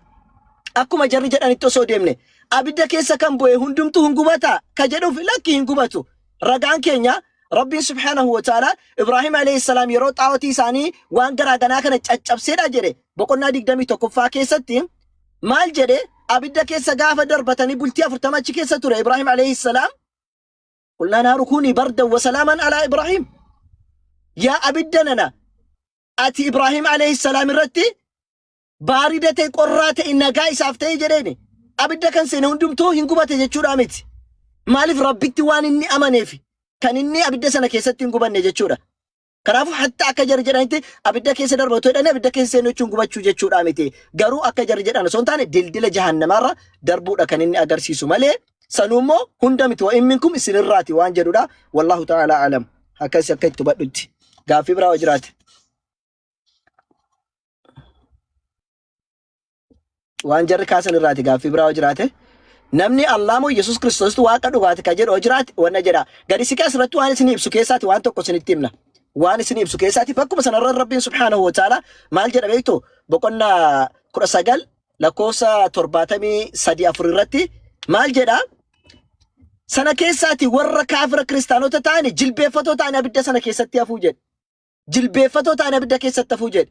akkuma jarri jedhanitti osoo deemne abidda keessa kan bu'e hundumtuu hin gubata ka jedhuuf lakki hin gubatu ragaan keenya rabbiin subhaanahu wa ta'ala ibraahim alayhi salaam yeroo xaawotii isaanii waan garaa ganaa kana caccabseedha jedhe boqonnaa 21ffaa keessatti Maal jedhe abidda keessa gaafa darbatanii bultii afurtama achi keessa ture Ibraahim alayhi salaam. Qulnaa naaru kuunii bardan wa salaaman alaa Ibraahim. Yaa abidda nana ati Ibraahim alayhi salaam irratti baarida ta'e qorraa ta'e nagaa isaaf ta'e jedheeni. Abidda kan seene hundumtuu hin gubate jechuudha miti. Maaliif rabbitti waan inni amaneef kan inni abidda sana keessatti hin gubanne jechuudha. Kanaafuu hatta akka jarri jedhanitti abidda keessa darba otoo jedhanii abidda keessa seenuu jechuun gubachuu jechuudhaa miti. Garuu akka jarri jedhan osoo hin taane dildila jahannamaarra darbuudha kan inni agarsiisu malee sanuu immoo hunda miti wa'in minkum isinirraati waan jedhudha. Wallaahu ta'ala alam. Akkas akka itti hubadhutti. Gaaffii biraa yoo jiraate. waan jarri kaasan irraati gaaffii biraa yoo jiraate namni Allah moo Yesuus Kiristoositu waaqa dhugaati kan jedhu yoo jiraate wanna jedha gadi siqee asirratti waan isin ibsu keessaati waan tokko isinitti himna waan isin ibsu keessaati bakkuma sanarra rabbiin subhaanahu wa ta'ala maal jedha beektu boqonnaa kudha sagal lakkoofsa torbaatamii sadii afur irratti maal jedha sana keessaati warra kaafira kiristaanota ta'ani jilbeeffatoo ta'ani abidda sana keessatti hafuu jedhe jilbeeffatoo ta'ani abidda keessatti hafuu jedhe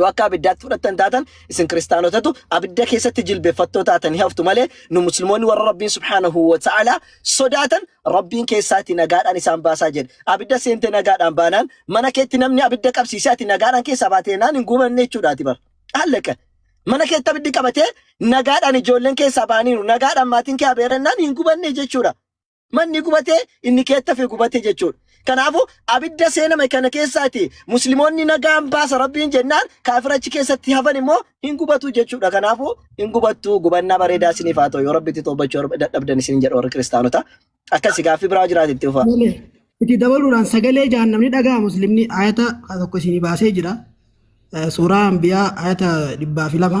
yoo akka abiddaatti fudhattan taatan isin kiristaanotatu abidda keessatti jilbeeffattoo taatan hin haftu malee nu musliimoonni warra rabbiin subhaanahu wa ta'ala sodaatan rabbiin keessaati nagaadhaan isaan baasaa jedhe abidda seente nagaadhaan baanaan mana keetti namni abidda qabsiisee ati nagaadhaan keessaa baatee naan hin gubanne jechuudhaati bar hallaqa mana keetti abiddi qabatee nagaadhaan ijoolleen keessaa baaniiru nagaadhaan maatiin kee abeerannaan hin gubanne jechuudha Manni gubatee inni keetta fe gubate jechuudha. Kanaafuu abidda seename kana keessaati muslimoonni nagaan baasa rabbiin jennaan kaafira achi keessatti hafan immoo hin gubatu jechuudha. Kanaafuu hin gubattu gubannaa bareedaa isiniif haa ta'u yoo rabbitti toobachuu dadhabdan isin jedha warri kiristaanota. Akkasi gaaffii biraa jiraate itti fufaa. Malee itti dabaluudhaan sagalee jahannamni dhaga'a muslimni ayata tokko isinii baasee jira. Eh, Suuraa Anbiyaa ayata dhibbaa fi lama.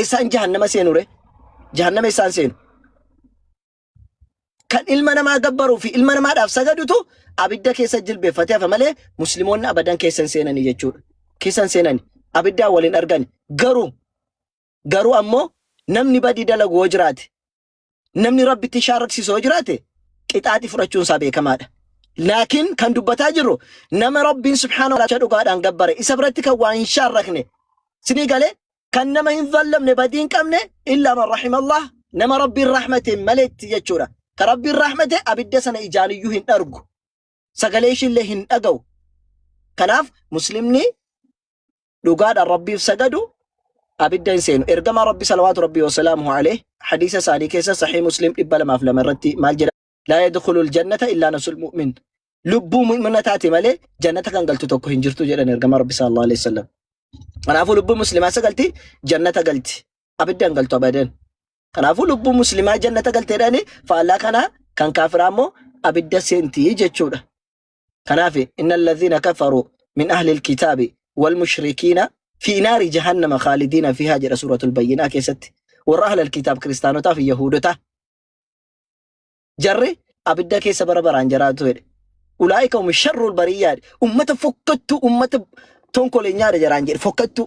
Eessaan jahannama seenu ree? Jahannama eessaan seenu? Kan ilma namaa gabbaruu fi ilma namaadhaaf sagadutu abidda keessa jilbeeffatee hafa malee musliimoonni abadan keessa hin seenani jechuudha. Keessa hin seenani. Abiddaan waliin argani. Garuu garuu ammoo namni badii dalagu yoo jiraate namni rabbitti shaarraksiisu yoo jiraate qixaaxi fudhachuun isaa beekamaadha. Laakiin kan dubbataa jirru nama rabbiin subhaanahu wa ta'ala dhugaadhaan gabbare isa biratti kan waa hin shaarrakne sinii galee kan nama hin zallamne badii hin qabne illaa man rahimallah nama rabbiin rahmate maleetti jechuudha. Ka rabbiin rahmate abidda sana ijaaniyyuu hin dhargu. sagalee ishiillee hin dhaga'u. Kanaaf muslimni dhugaadhaan rabbiif sagadu abidda hin seenu. Ergamaa rabbi salawaatu rabbi wasalaamuhu alayh hadiisa isaanii keessa sahii muslim dhibba lamaaf lama irratti maal jedha? Laa yadkhulul jannata illaa nafsul mu'min. Lubbuu mu'mina taate malee jannata kan galtu tokko hin jirtu jedhan ergamaa rabbi sallallahu alayhi wasallam. Kanaafuu lubbuu muslimaa sagalti jannata galti. Abidda hin galtu abadan. Kanaafuu lubbuun muslimaa jannata galti jedhanii faallaa kanaa kan kaafiraa immoo abidda seenti jechuudha. Kanaaf inna alladhiina kafaruu min ahli alkitaabi wal mushrikiina fi naari jahannama khaalidiina fiihaa jedha suuratul bayyinaa keessatti warra ahli alkitaab kiristaanotaa fi yahuudotaa jarri abidda keessa bara baraan jiraatu jedhe. Ulaa'ika hum sharrul bariyyaadha. Ummata fokkattuu ummata tonkolenyaadha jaraan jedhe fokkattuu.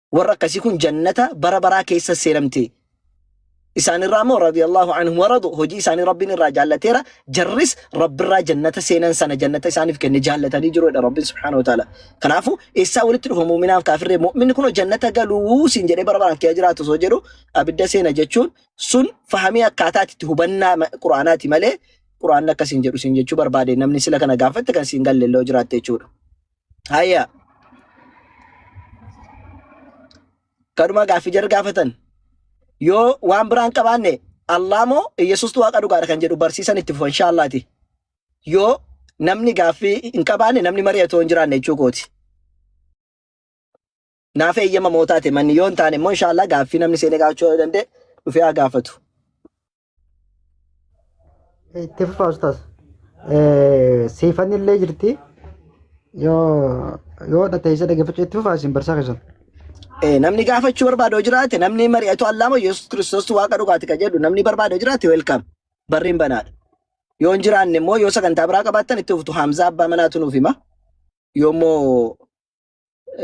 Warra akkasii kun jannata bara baraa keessa seenamti. Isaanirraa immoo radiyallahu anhum waradu hojii isaanii Rabbiin irraa jaallateera. Jarris Rabbirraa jannata seenan sana jannata isaaniif kenne jaallatanii jiru jedha Rabbiin subhaanahu wa ta'ala. Kanaafuu eessaa walitti dhufa mu'minaaf kaafirree mu'minni kun jannata galuu siin jedhee bara baraan kee jiraatu osoo jedhu abidda seena jechuun sun fahamii akkaataati itti hubannaa ma- quraanaati malee quraanni akkasiin jedhu siin jechuu barbaade namni sila kana gaafatte kan siin galle illee jiraatte jechuudha. Hayya. Kadhuma gaaffii jara gaafatan. Yoo waan biraa hin qabaanne Allah moo Yesuustu waaqa dhugaadha kan jedhu barsiisan itti fufa inshaallaati. Yoo namni gaaffii hin qabaanne namni mari'atu hin jiraanne jechuu kooti. Naaf eeyyama mootaate manni yoo hin taane immoo inshaallah gaaffii namni seenee gaafachuu yoo danda'e dhufee haa gaafatu. itti fufaa ustaas siifanni illee jirti yoo yoo dhateessa dhaggeeffachuu itti fufaa isin barsaa keessan Eh, namni gaafachuu barbaadu yoo jiraate namni mari'atu allaama yesus kiristoos waaqa dhugaati ka jedhu namni barbaadu yoo jiraate welkaam barriin banaadha yoo hin jiraanne immoo yoo sagantaa biraa qabaattan itti fuftu haamzaa abbaa manaatu nuuf hima yoommoo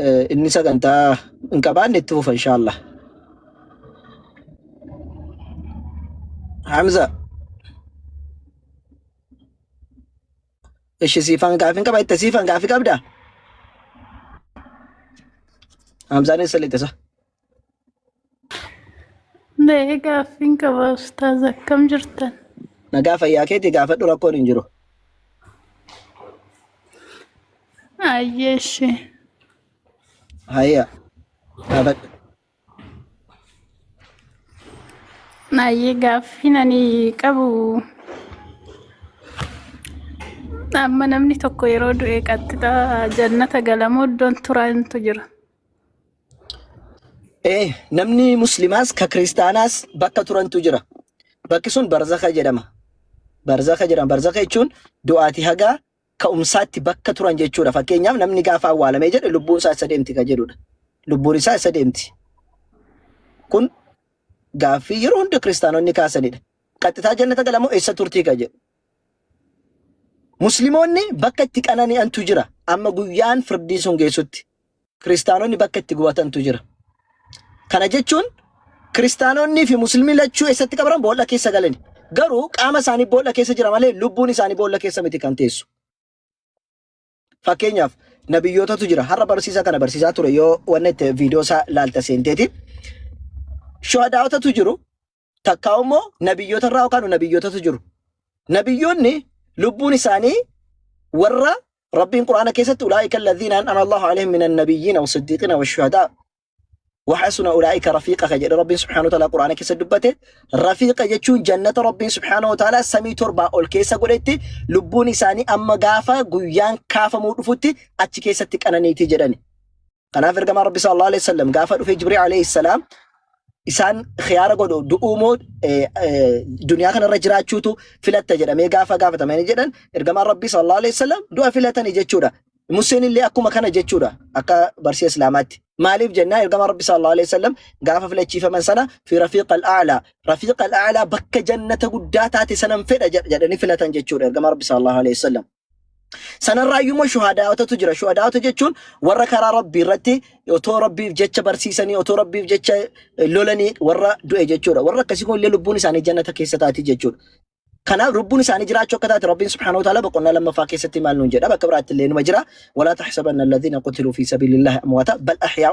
Eh, Inni sagantaa hin qabaanne itti fufa inshaallah. Hamza, ishi siifan gaafii hin qaba itti siifan gaafii qabda? Hamzaan eessa lixisa? Mee gaaffiin qaba ustaaz akkam jirtan? Nagaa fayyaa keetii gaafadhu rakkoon hin jiru. Ayyee ishee. Hayya gaafadhu. Ayyee gaaffiin ani qabu amma namni tokko yeroo du'e qaxxixa jannata galamoo iddoon turaa hintu jira. Ee, namni muslimaas ka kiristaanaas bakka turantu jira. Bakki sun barzaka jedhama. Barzaka jedhama. Barzaka jechuun du'aati haga ka'umsaatti bakka turan jechuudha. Fakkeenyaaf namni gaafa awwaalamee jedhe lubbuun isaa isa deemti ka jedhudha. Lubbuun isaa isa deemti. Kun gaaffii yeroo hunda kiristaanonni kaasanidha. Qaxxitaa jannata galamoo eessa turtii ka jedhu. Muslimoonni bakka itti qanani'antu jira. Amma guyyaan firdii sun geessutti. Kiristaanonni bakka itti gubatantu jira. Kana jechuun kiristaanonnii fi muslimni lachuu eessatti qabran boolla keessa galani. Garuu qaama isaanii boolla keessa jira malee lubbuun isaanii boolla keessa miti kan teessu. Fakkeenyaaf nabiyyootatu jira. Har'a barsiisa kana barsiisaa ture yoo wanni itti viidiyoo isaa laalta seenteeti. Shuhadaa'otatu jiru. takkaa immoo nabiyyoota irraa yookaan nabiyyootatu jiru. Nabiyyoonni lubbuun isaanii warra Rabbiin Qur'aana keessatti ulaa'ika alladhiina an'ama Allahu alaihim minan nabiyyiina wa siddiiqiina wa shuhadaa wa hasuna ulaa'ika rafiiqa ka jedhe Rabbiin subhaanahu wa ta'ala Qur'aana keessa dubbate rafiiqa jechuun jannata Rabbiin subhaanahu wa ta'ala samii torbaa ol keessa godhetti lubbuun isaanii amma gaafa guyyaan kaafamuu dhufutti achi keessatti qananiiti jedhani. Kanaaf ergamaan Rabbi sallallahu alaihi wasallam gaafa dhufee Jibril alaihi salaam isaan khiyaara godhu du'uu moo eh, eh, duniyaa kanarra jiraachuutu filatta jedhamee gaafa gaafatamanii jedhan ergamaan Rabbi sallallahu alaihi wasallam du'a filatani jechuudha. Museen illee akkuma kana jechuudha akka barsiisa Islaamaatti. Maaliif jennaa ergamaan Rabbi sallallahu alaihi wasallam gaafa filachiifaman sana fi rafiiq al-a'la rafiiq al-a'la bakka jannata guddaa taate sanan fedha jedh- jedhanii filatan jechuudha ergamaa Rabbi sallallahu alaihi wasallam. Sanarraayyuu immoo shuhadaa'otatu jira. Shuhadaa'ota jechuun warra karaa Rabbii irratti otoo Rabbiif jecha barsiisanii, otoo Rabbiif jecha eh, lolanii warra du'e jechuudha. Warra akkasii kun illee lubbuun isaanii jannata keessa taati jechuudha. Kanaaf lubbuun isaanii jiraachuu akka taate Rabbiin subhaanahu wa ta'ala boqonnaa lammaffaa keessatti maal nuun jedha bakka biraatti illee numa jira. Walaa tahsabanna alladhiina qutiluu fi sabiilillahi amwaata bal ahyaa